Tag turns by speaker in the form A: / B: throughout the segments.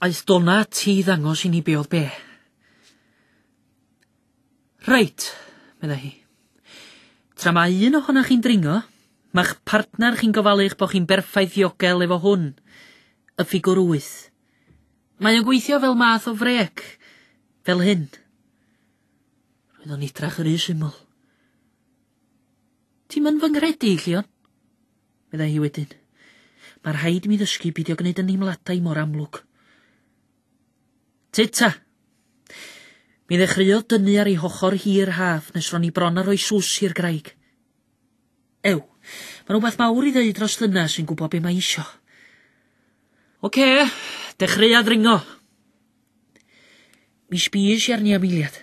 A: Aeth Donna ati i ddangos i ni be oedd be. Reit, meddai hi. Tra mae un ohonoch chi'n dringo, mae'ch partner chi'n gofalu'ch bod chi'n berffaith ddiogel efo hwn, y ffigwr wyth. Mae o'n gweithio fel math o frec, fel hyn. Roedd o'n idrach yr u syml. Ti'n mynd fy nghredu, Llion? Meddai hi wedyn. Mae rhaid i mi ddysgu beidio gwneud y nheimladau mor amlwg. Tita! Mi ddechreuodd dynnu ar ei hochor hi yr haf nes ro'n i bron a rhoi sws i'r graig. Ew, mae rhywbeth mawr i ddeud dros ddynas sy'n gwybod be mae isio. Oce, dechreuad ringo. Mi sbis i arni am eiliad.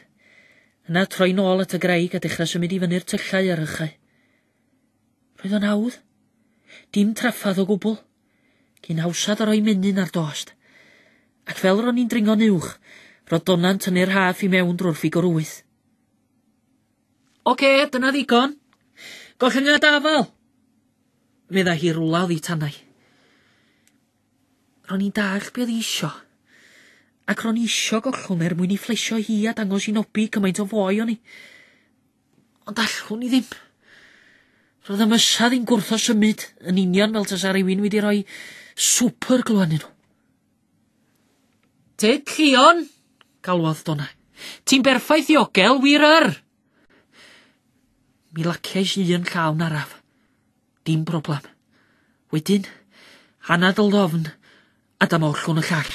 A: Yna troi'n ôl at y graig a dechrau symud i fyny'r tyllau ar rychau. Roedd o'n hawdd. Dim traffarth o gwbl. Cyn hawsad a rhoi menyn ar dost. Ac fel ro'n i'n dringo'n uwch, roedd Dona'n tynnu'r rhaff i mewn drwy'r ffigwr wyth. Ocê, dyna ddigon. Gollyngiad afal! Meddai hi rwla oddi tanau. Ro'n i'n dallt be oedd isio, ac ro'n isio gollwng er mwyn i fflesio hi a dangos i Nobi cymaint o foi o'n i. Ond allwn i ddim. Roedd y mysad i'n gwrtho symud yn union fel tasa rhywun wedi rhoi swper glwannu nhw. Te Llion, galwodd Donna. Ti'n berffaith ddiogel, wir yr! Mi laciais i yn llawn araf. Dim broblem. Wedyn, anad y lofn a dyma ollwn y llall.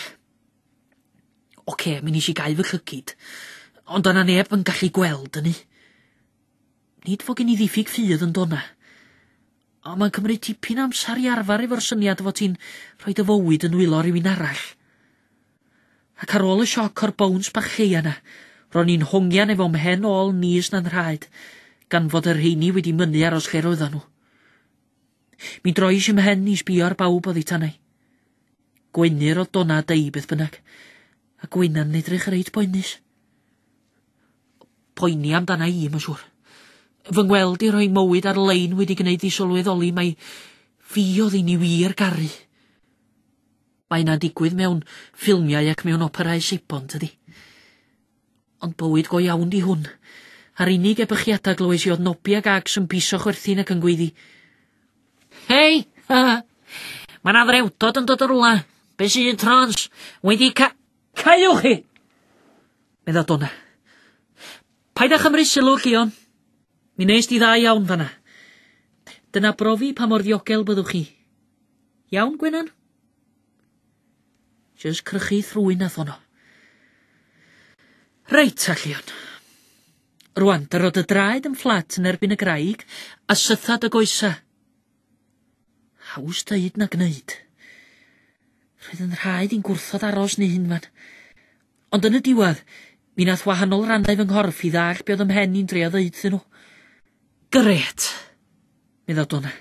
A: Ocê, mi nes i gau fy llycid, ond o'na neb yn gallu gweld hynny. Nid fo gen i ddiffyg ffydd yn dona. Ond mae'n cymryd tipyn amser i arfer efo'r syniad fod ti'n rhoi dy fywyd yn wylo rhywun arall. Ac ar ôl y sioc o'r bowns bach lleia yna, ro'n i'n hongian efo mhen ôl nis na'n nhraed, gan fod y rheini wedi mynnu aros lle roeddan nhw. Mi drois i mhen i sbio ar bawb oddi tanau. Gweinir o Donna Dei beth bynnag. A Gwynna'n edrych reit boenus. Poeni amdana i, mae'n siŵr. Fy ngweld i rhoi mywyd ar-lein wedi gwneud i sylweddoli mai fi oedd i ni wir garu. Mae yna'n digwydd mewn ffilmiau ac mewn operau Seibon, tydi? Ond bywyd go iawn di hwn. A'r unig ebychiada glywais i oedd Nobi ag Ags yn piso chwerthin ac yn gweiddi. Hei! Ha! Mae na frewdod yn dod yn rwla. Be sy'n trans? Wedi ca... Caiwch chi! Medda Donna. Paid â chymru sylw, Llion. Mi nes di dda iawn fanna. Dyna brofi pa mor ddiogel byddwch chi. Iawn, Gwenan? Jyst crychu thrwy na ffono. Reit, Allion. Rwan, dyro dy draed yn fflat yn erbyn y graig a sytha dy goesa. Haws dweud na gwneud. Roedd yn rhaid i'n gwrthod aros ni hyn fan. Ond yn y diwedd, mi nath wahanol rannau fy nghorff i ddall be oedd ym mhen i'n drio ddeud iddyn nhw. Gret! Medda Donna.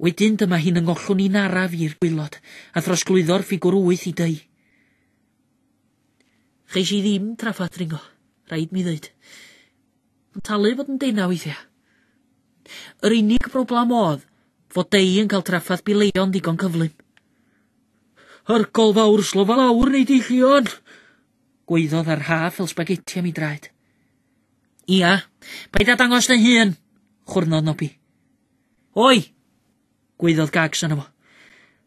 A: Wedyn dyma hi'n yngollwng i'n araf i'r gwylod, a throsglwyddo'r ffigwr wyth i dŷ. Cheis i ddim traffa dringo, rhaid mi ddeud. Mae'n talu fod yn dena weithiau. Yr unig broblem oedd fod dei yn cael traffath bileion ddigon cyflym. Hyrgol fawr slofa lawr neu deillion! Gweiddodd ar haf fel spaghetti am ei draed. Ia, paid â dangos dy hun, chwrnodd Nobi. Oi! gwaeddodd Gags yno fo.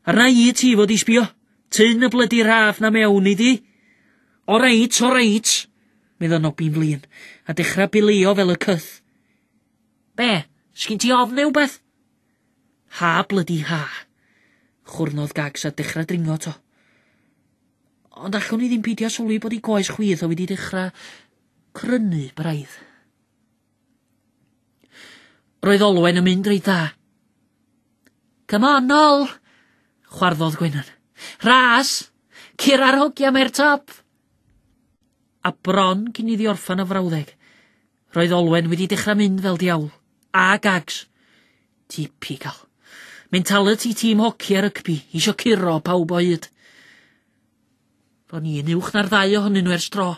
A: Arna i ti fod i sbio. Tyn y blydi raff na mewn i di. O reit, o reit, medda Nobi'n flin, a dechrau bilio fel y cyth. Be, sgyn ti ofn neu beth? Ha blydi ha, chwrnodd Gags a dechrau dringo to. Ond allwn i ddim peidio sylwi bod i goes chwith o wedi dechrau Crynu braidd. Roedd Olwen yn mynd reit dda. Come on, nol! Chwarddodd Gwenan. Rhas! Cur ar hogia mae'r top! A bron cyn iddi orffan y frawddeg, roedd Olwen wedi dechrau mynd fel diawl. A gags! Typical. Mentality tîm hoci a rygbi, isio curo pawb o hyd. O'n i yn uwch na'r ddau ohonyn nhw ers dro,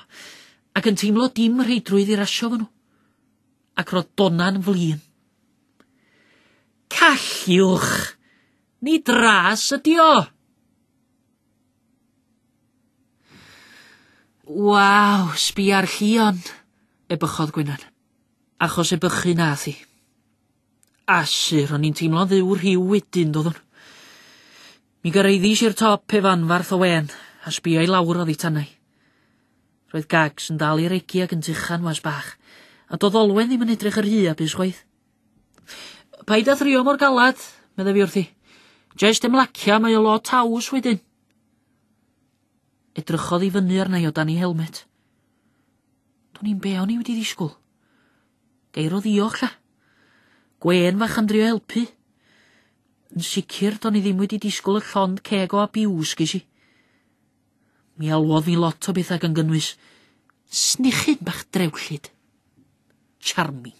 A: ac yn teimlo dim rheidrwydd i rasio fo nhw. Ac roedd Dona'n flin. Calliwch! Ni dras ydi o! Waw, sbia'r llion, ebychodd Gwenan. Achos ebychu nath i. Asur, o'n i'n teimlo'n dduw rhyw wedyn, doeddwn. Mi gyrhaeddis i'r top pe fanfarth o wên, a sbïo i lawr oddi tanai. Roedd Gags yn dal i regi ag yn tuchan was bach, a doedd Olwen ddim yn edrych yr rhy a bus chwaith. Paid â thrio mor galad, meddai fi wrthi. Jest ymlacia, mae o lot haws wedyn. Edrychodd i fyny arna i o dan ei helmet. Do'n i'n be o'n i wedi ddisgwyl. Geir o ddiolch, lla. Gwen fach am drio helpu. Yn sicr, do'n i ddim wedi disgwyl y llond ceg o abiws ges i. Mi alwodd ni lot o bethau gan gynnwys snichyn bach drewllyd. Charming.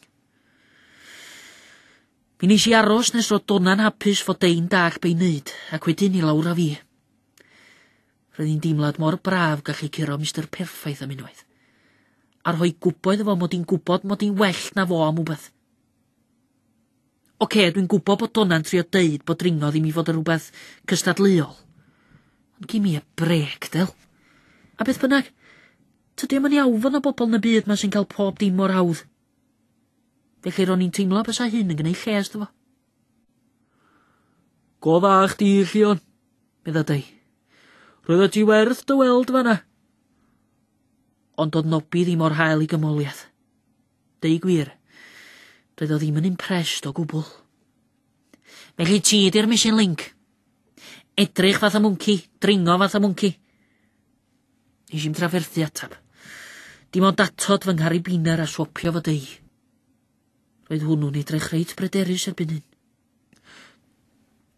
A: Mi nes i aros nes roedd Dona'n hapus fod dein dach be'i wneud, ac wedyn i lawr a fi. Roedd hi'n deimlad mor braf gallu curo Mr Perffaith am unwaith, a rhoi gwybod efo mod i'n gwybod mod i'n well na fo am wbeth. Ocê, dwi'n gwybod bod Dona'n trio deud bod dringo ddim i fod yn rhywbeth cystadleuol. Ond gimme a brêc, Del. A beth bynnag, tydi o'm yn iawn fod 'na bobl yn y byd 'ma sy'n cael pob dim mor hawdd. Felly ro'n i'n teimlo bysa hyn yn gneud lles do fo. Go dda chdi, Llion, medda Dei. Roedda ti werth dy weld fanna. Ond doedd Nobi ddim o'r hael i gymoliaeth. Deu gwir, doedd o ddim yn impressed o gwbl. Felly ti ydi'r missing link. Edrych fath o mwnci, dringo fath o mwnci. Nes i'n trafferthu atab. Dim ond atod fy nghari biner a swopio fo deu. Roedd hwnnw'n edrych reit bryderus erbyn hyn.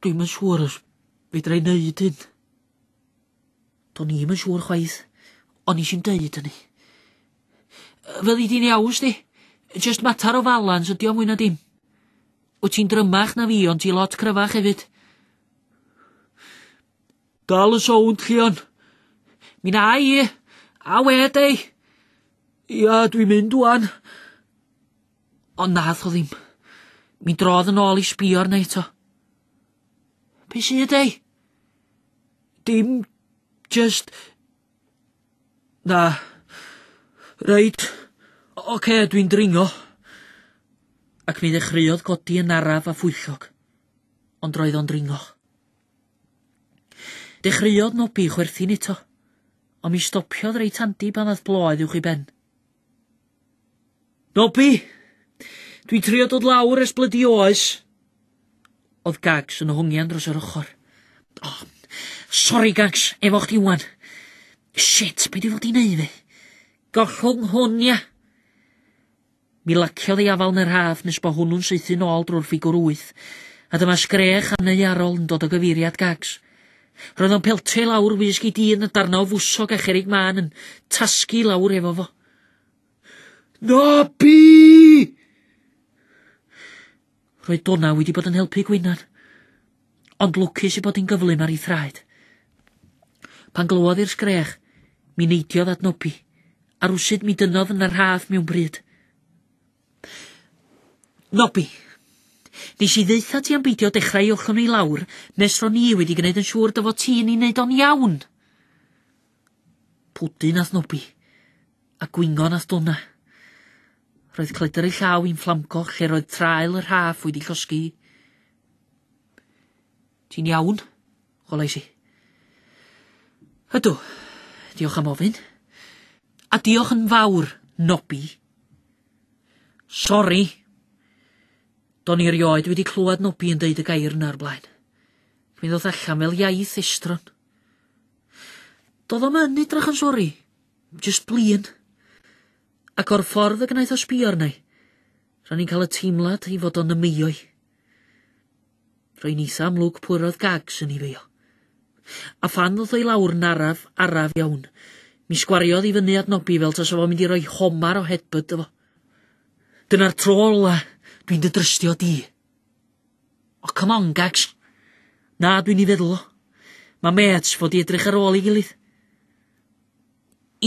A: Dwi'n yn siŵr os fedra i wneud hyn. Do'n i'm yn siŵr chwaith, ond nes i'n deud hynny. Fel i di'n iaws di, just matar o falans ydi o mwy na dim. Wyt ti'n drymach na fi, ond ti lot cryfach hefyd. Dal y sownd, Llion. Mi na i, a wed ei. Ia, dwi'n mynd wan. Ond nath o ddim. Mi drodd yn ôl i sbio arna eto. Be sydd ei? Dim jyst... Na. Reit, ocê, dwi'n dringo. Ac mi ddechreuodd godi yn araf a phwyllog, ond roedd o'n dringo. Dechreuodd nobi chwerthin eto, ond mi stopiodd reit handi pan ddath bloedd uwch i ben. Nobi! Dwi'n trio dod lawr ers blydi oes. Oedd Gags yn hongian dros yr ochr. Oh, sori Gags, efo chdi wan. Shit, be dwi fod i neud fi? Gollwng hwn, ia? Mi laciodd ei afal yn yr haf nes bod hwnnw'n saethu'n ôl drwy'r ffigwr wyth, a dyma sgrech aneuarol yn dod o gyfeiriad Gags. Roedd o'n peltio i lawr wisg i dyn y darna o fwsog a cherig mân yn tasgu i lawr efo fo. Nobi! Roedd Donna wedi bod yn helpu Gwynan, ond lwcus i bod hi'n gyflym ar ei thraed. Pan glywodd i'r sgrech, mi neidiodd at Nobi, a rwsyd mi dynodd yn y rhaff mewn bryd. Nobby. Nes i ddeutha ti am beidio dechrau i ochlon i lawr nes ro ni wedi gwneud yn siŵr dy fod ti yn ei wneud o'n iawn. Pwdin ath Nobby, a gwingon ath Donna. Roedd cledr ei llaw i'n fflamgo lle roedd traul y rhaff wedi llosgi. Ti'n iawn? holais i. Ydw. Diolch am ofyn. A diolch yn fawr, Nobi. Sori. Do'n i rioed wedi clywed Nobi yn deud y gair yna o'r blaen. Mi ddoth allan fel iaith estron. Doedd o'm yn edrych yn sori, just blin. Ac o'r ffordd y gwnaeth o sbio arna i, ro'n i'n cael y teimlad i fod o'n ymwyo i. Rwy'n eitha amlwg pwy roedd Gags yn ei feio. A phan ddoth o i lawr yn araf, araf iawn, mi sgwariodd i fyny at Nobby fel tasa fo'n mynd i roi homar o headbutt iddo fo. Dyna'r tro ola dwi'n dy drystio di. O, come on, Gags. Na, dwi'n ei feddwl o. Mae mêts fod i edrych ar ôl ei gilydd.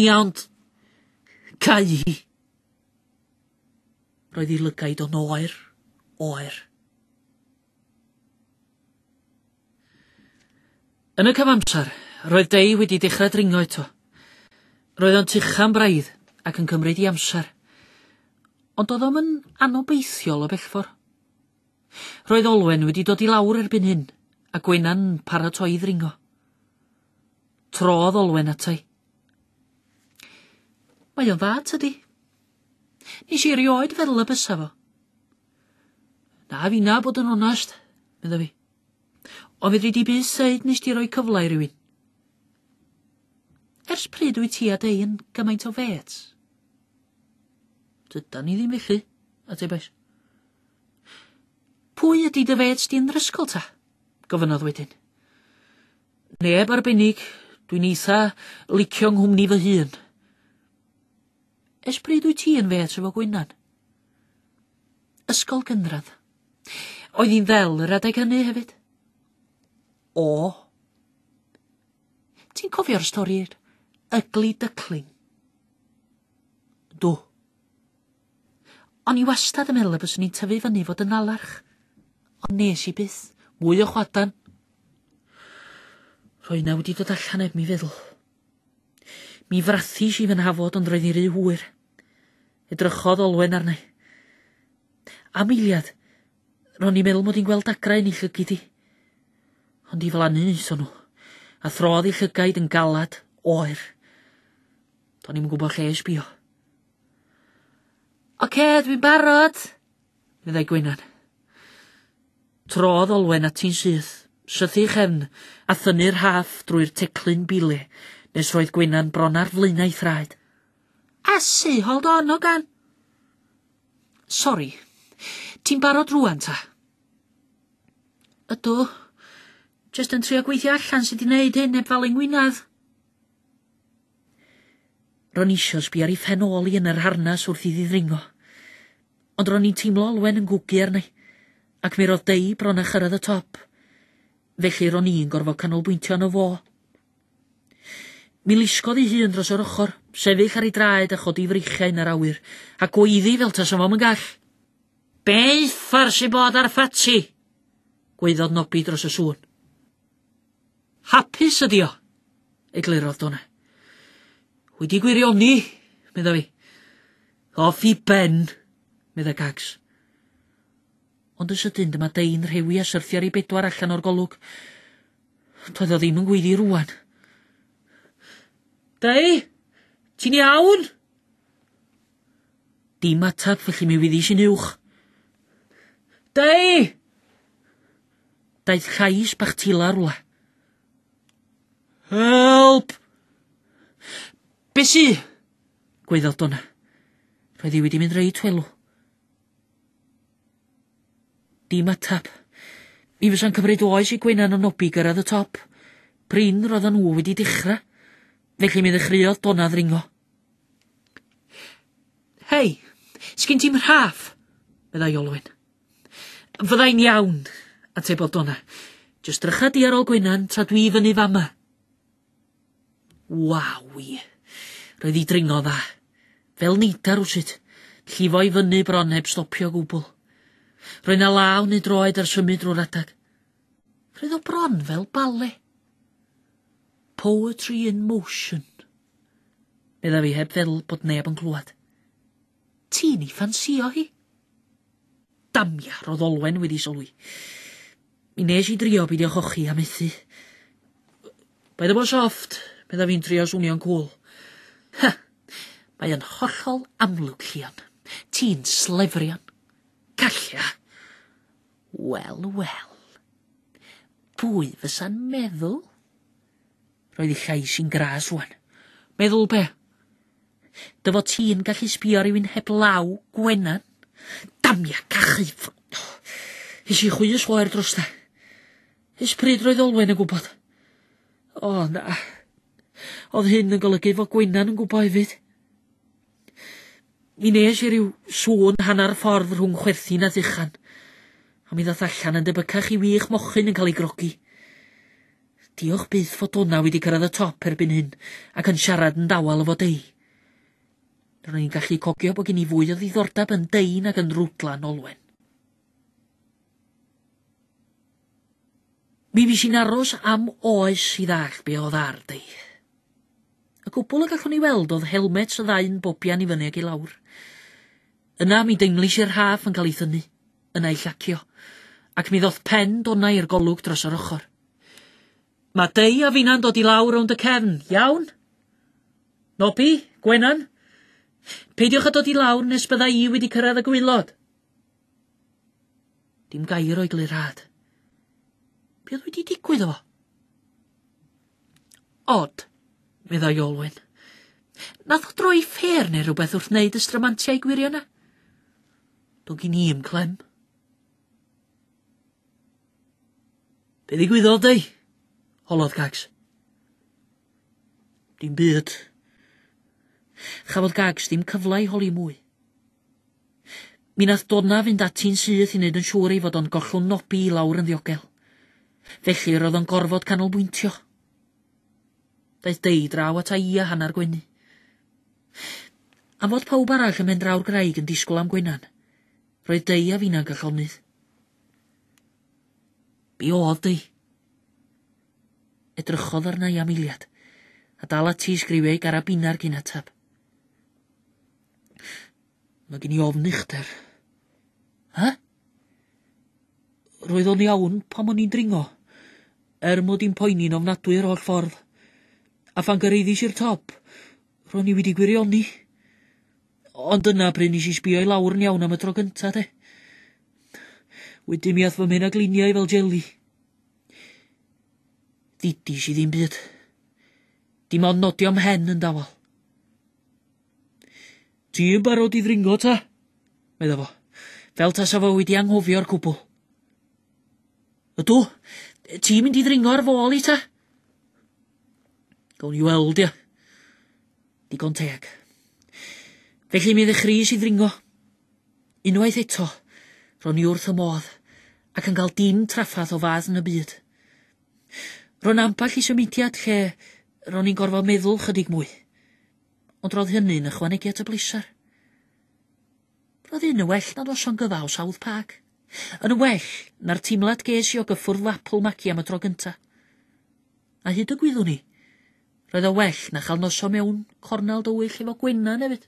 A: Ia, ond... Cau hi. Roedd ei lygaid o'n oer, oer. Yn y cyfamser, roedd Dei wedi dechrau dringo eto. Roedd o'n tucha'n braidd ac yn cymryd i amser. Ond doedd o'm yn anobeithiol o bellfor. Roedd Olwen wedi dod i lawr erbyn hyn, a Gwena'n paratoi i ddringo. Trodd Olwen atai. Mae o'n dda, tydi? Nes i erioed feddwl y bysa fo. Na finna bod yn onast, medda fi. Ond fedri di bus seid nes di roi cyfle i rywun. Ers pryd wyt ti a dei yn gymaint o fêts? Dyda ni ddim felly, atebais. Pwy ydy dy fêts di'n rysgol ta? Gofynnodd wedyn. Neb arbennig, dwi'n eitha licio nghwmni fy hun. Ers pryd wyt ti yn fêts efo Gwynan? Ysgol gynradd. Oedd hi'n ddel yr adeg hynny hefyd? O. Ti'n cofio'r stori'r ugly duckling? Do. O'n i wastad yn meddwl y byswn i'n tyfu fyny fod yn nalarch. Ond nes i byth. Mwy o chwadan. Rhoi na wedi dod allan heb mi feddwl. Mi frathis i fy nhafod ond roedd hi'n rhy hwyr. Edrychodd Olwen arni. Am eiliad, ro'n i'n meddwl mod i'n gweld dagrau yn ei llygid hi. Ond i flannu nes nhw, a throdd ei llygaid yn galad, oer. Do'n i'm yn gwybod lle i sbio. Oce, dwi'n barod! meddai Gwenan. Trodd Olwen ati'n syth, sythu chefn, a thynnu'r rhaff drwy'r teclyn bile, nes roedd Gwenan bron ar flaenau thraed. Asu, hold on, Ogan! Sori, ti'n barod rwan ta? Ydw, jyst yn trio gweithio allan sut i wneud hyn neb falu ngwynedd. Ro'n eisiau sbi ar ei phen ôl i yn yr harnas wrth i ddidringo. Ond ro'n i'n teimlo olwen yn gwgu arni, ac mi ro'dd Dei bron â chyrraedd y top, felly ro'n i'n gorfod canolbwyntio arno fo. Mi lusgodd ei hun dros yr ochr, sefyll ar ei draed a chodi freichiau yn yr awyr, a gweiddi fel tasa fo'm yn gall. Be uffar sy'n bod ar Ffatsi? gwaeddodd Nobi dros y sŵn. Hapus ydi o, eglurodd Dona. Wedi gwirioni, medda fi. Cof i ben! medda Gags. Ond yn sydyn dyma dyn rhewi a syrthio ar ei bedwar allan o'r golwg. Doedd o ddim yn gweiddi rwan. Dei, ti'n iawn? Dim atab felly mi wyddis i'n uwch. Dei! Daeth llais bach tila rwla. Help! Be sy? Gwyddodwn. Roedd hi wedi mynd reit welw. Dim ateb. Mi fysa'n cymryd oes i Gwenan a Nobi gyrraedd y top. Prin roedden nhw wedi dechrau. Felly mi ddechreuodd Donna ddringo. Hei, sgyn ti'n rhaff, meddai Olwyn. Fyddai'n iawn, atebodd Donna. Just drycha di ar ôl Gwenan tra dwi i fyny fama. Waw! Roedd hi dringo dda. Fel neidar rywsut. Llifo i fyny bron heb stopio o gwbl. Roedd na law neu droed ar symud drwy'r adeg. Roedd o bron fel bale. Poetry in motion. Medda fi heb feddwl bod neb yn clywed. Ti'n ei ffansïo hi? Damia, roedd Olwen wedi sylwi. Mi wnes i drio beidio chochi a methu. Paid â bod soft, meddai fi'n trio swnio'n cŵl. Ha! Mae yn hollol amlwg, Llion. Ti'n slefrian. Calla! Wel, wel. Pwy fysa'n meddwl? Roedd ei llais yn gras rwan. Meddwl be? Dy fod ti'n gallu sbio ar rywun heb law, Gwenan? Damia, cachu! Hes i chwys oer dros da. Ys pryd roedd Olwen yn gwybod? O, na. Oedd hyn yn golygu fod Gwenan yn gwybod hefyd. Mi nes i ryw sŵn hanner ffordd rhwng chwerthin a ddychan, a mi ddath allan yn debycach i wych mochyn yn cael ei grogi. Diolch byth fod dona wedi cyrraedd y top erbyn hyn ac yn siarad yn dawel efo dei. Ro'n i'n gallu cogio bod gen i fwy o ddiddordeb yn dei nag yn rwdlan olwen. Mi fis i'n aros am oes i ddall be oedd ar dy. Y cwbl y gallwn i weld oedd helmets y ddau'n bobian i fyny ac i lawr. Yna mi deimlis i'r rhaff yn cael ei thynnu, yna ei llacio, ac mi ddoth pen dona i'r golwg dros yr ochr. Mae Dei a finna'n dod i lawr rownd y cefn, iawn? Nobi, Gwenan, peidiwch â dod i lawr nes bydda i wedi cyrraedd y gwaelod. Dim gair o'i glirâd. Be oedd wedi digwydd o fo? Odd, meddai Olwen. Nath o droi ffêr neu rhywbeth wrth wneud y stramantiau gwirio yna. Do gin i i'm clem. Be ddigwyddodd dei? Holodd Gags. Dim byd. Chafodd Gags ddim cyfle i holi mwy. Mi nath Donna fynd ati'n syth i wneud yn siŵr ei fod o'n gollwng Nobi i lawr yn ddiogel. Felly yr oedd o'n gorfod canolbwyntio. Daeth Dei draw ata i a hanner gwenu. Am fod pawb arall ym Mhendraw'r Graig yn disgwyl am Gwenan, roedd Dei a finna'n gyllonydd. Be oedd Dei? Edrychodd arna i am eiliad, a dal ati i sgriwio ei garabinau ar gyn atab. Mae gen i ofn uchder. Hah? Roedd o'n iawn pam o'n i'n dringo, er mod i'n poeni'n ofnadwy yr holl ffordd. A phan gyrraeddis i'r top, ro'n i wedi gwirioni. Ond dyna pryd nes i sbio i lawr yn iawn am y tro gynta, de. Wedyn mi ath fy mhen a gliniau fel jeli. Ddidis i ddim byd. Dim ond nodio mhen yn dawel. Ti yn barod i ddringo ta? Medda fo, fel tasa fo wedi anghofio'r cwbl. Ydw, ti'n mynd i ddringo ar fôl i ta? Gawn ni weld, ia. Digon teg. Felly mi ddechreus i ddringo. Unwaith eto, ro'n i wrth y modd, ac yn cael dim traffath o fath yn y byd. Ro'n ambell i symudiad lle ro'n i'n gorfod meddwl chydig mwy. Ond roedd hynny'n ychwanegu at y bleser. Roedd hyn yn well na noson gyfa o South Park. Yn well na'r teimlad ges i o gyffwrdd Lapwel Magi am y tro gynta. A hyd y gwyddwn i, roedd o well na chael noson mewn cornel dywyll efo Gwennan hefyd.